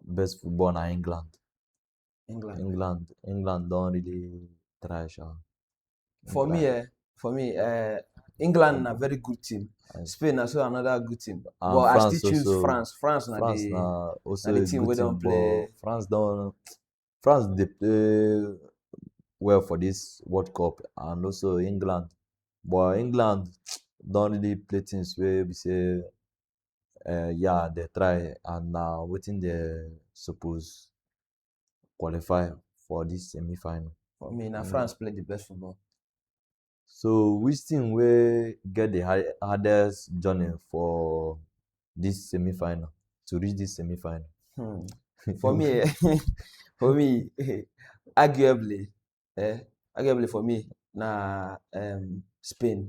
best football na England. England. England, England don really try sha. For me, eh, for me, eh, England na very good team. Yes. Spain na so another good team. And but I France still choose also- France. France na France the na also na the a team good wey don team, play- but France don France dey play well for this World Cup and also England. But England don really play things wey be say um yeah dem try and na wetin dem suppose qualify for this semi final. For me, na mm. France play the best football. So which team will get the high, hardest journey for this semi final to reach this semi final? Hmm. For me, for me, arguably, eh, arguably for me, na um, Spain.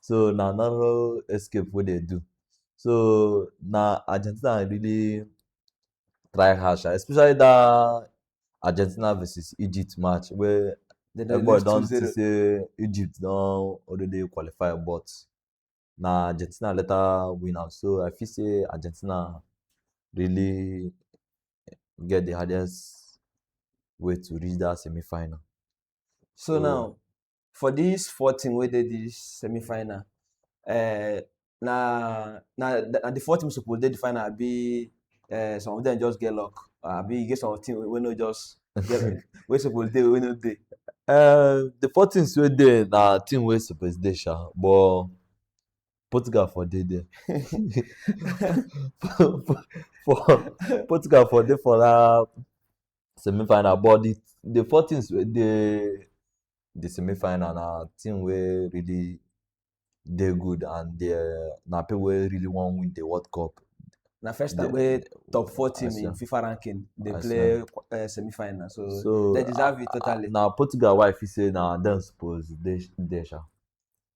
so na narrow escape wey dem do so na argentina really try hard sha especially that argentina versus egypt match wey They don everybody lose don see 2-0. say egypt don already qualify but na argentina later win am so i feel say argentina really get the hardest way to reach that semi-final. So So- now, for this four team wey dey the semi final uh, na na na the four teams suppose dey the final abi uh, some of them just get luck abi you get some team wey no just get wey suppose dey wey no dey. Uh, the four teams wey dey na team wey suppose dey sha but Portugal for dey there. for, for, for Portugal for dey for that semi-final but the the four teams wey dey the semi-final na team wey really dey good and they na people wey really wan win the world cup na first time The- wey top four team I in see. fifa ranking dey I play uh, semi-final so, so they deserve it totally. na portugal wey i feel say na dem suppose dey sh- dey sha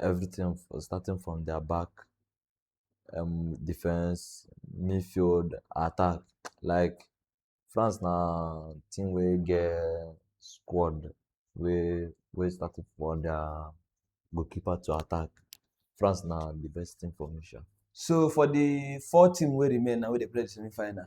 everything for starting from their back um, defense, midfield, attack. Like France na team wey get squad wey wey started for their goalkeeper to attack. France na the best team for me sha. So for the four team wey remain na wey dey play the semi-final,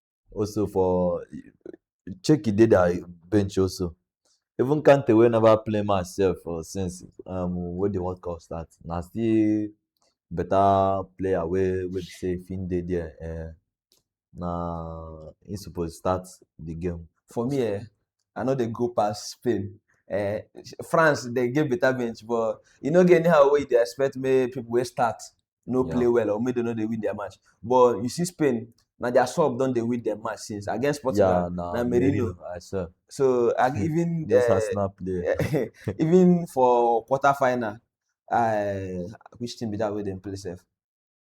also for check e dey their bench also even kante wey never play match sef for since um, wey the world cup start na still better player wey wey be say if him dey there eh, na him suppose start the game. for me eh i no dey go pass spain eh france dey get better bench but e no get anyhow wey you dey expect make people wey start no yeah. play well or maybe they no dey win their match but you see spain na their sub don dey win their match since against portugal yeah, nah, na merino i swear so and even uh, arsenal play even for quarter final uh, which team be that wey dem play sef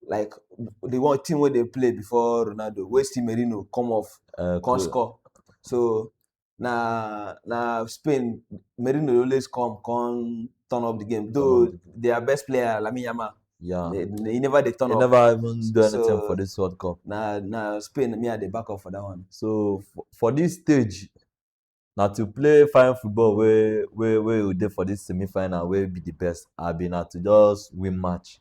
like the one team wey dey play before ronaldo wey still merino come off uh, come cool. score so na na Spain Merino dey always come come turn up the game though Turn up their best player Lamine Yamal Yeah. he, he never dey turn They up never even do anything So- for this World Cup. na na Spain me I dey back up for that one So for, for this stage, now to play fine football where where where you dey for this semi-final, where be the best, I be now to just win match.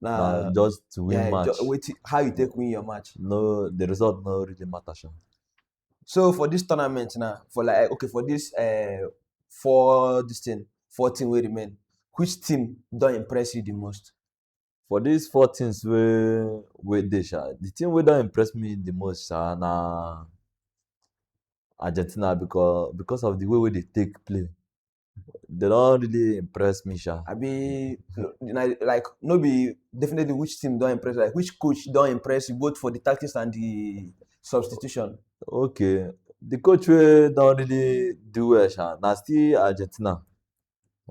na na just to win yeah, match ju- wetin how you take win your match no the result no really matter sha so for this tournament now for like okay for this uh, four this thing four team wey remain which team don impress you the most for these four things wey wey dey sha the thing wey don impress me the most sha na argentina because because of the way wey they take play they don't really impress me, sha. I be like no be definitely which team don't impress like which coach don't impress you both for the tactics and the substitution. Okay, the coach wey don't really do well, sha. Na still Argentina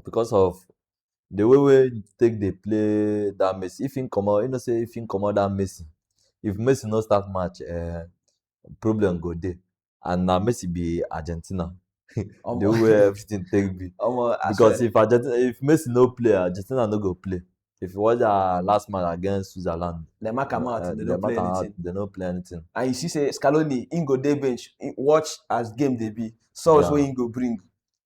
because of the way we take dey play that Messi. If him comot, you know say if him comot that Messi, if Messi no start match, uh, problem go dey. and na messi be argentina the Omo. way everything take be Omo, I because swear. if argentina if messi no play argentina no go play if you watch their last match against switzerland dem mark am out, uh, they no dem play matter how- anything. they no play anything And you see, say Scaloni, he go dey bench, he watch as game dey be, sauce Yeah. wey he go bring.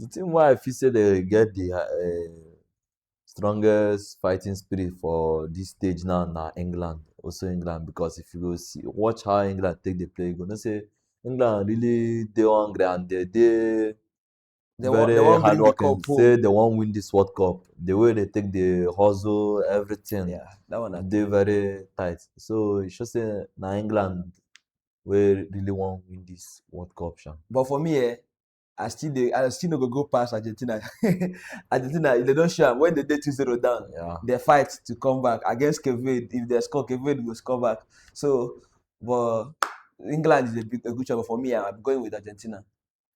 the thing why i feel say they get the um, strongest fighting spirit for this stage now na england also england because if you go see watch how england take dey play you go know say england really dey hungry and they dey They wan- very they wan win the hardworking cup, oh. say they wan win this world cup the way they take dey hustle everything Yeah, that one. I dey very tight so e show say na england wey really wan win this world cup sha. But for me, eh, I still dey I still no go go past Argentina. Argentina if they don show am when they dey 2-0 down, Yeah. they fight to come back against Cape Verde. If they score, Cape Verde go score back. So, but England is a big a good job for me. I'm going with Argentina.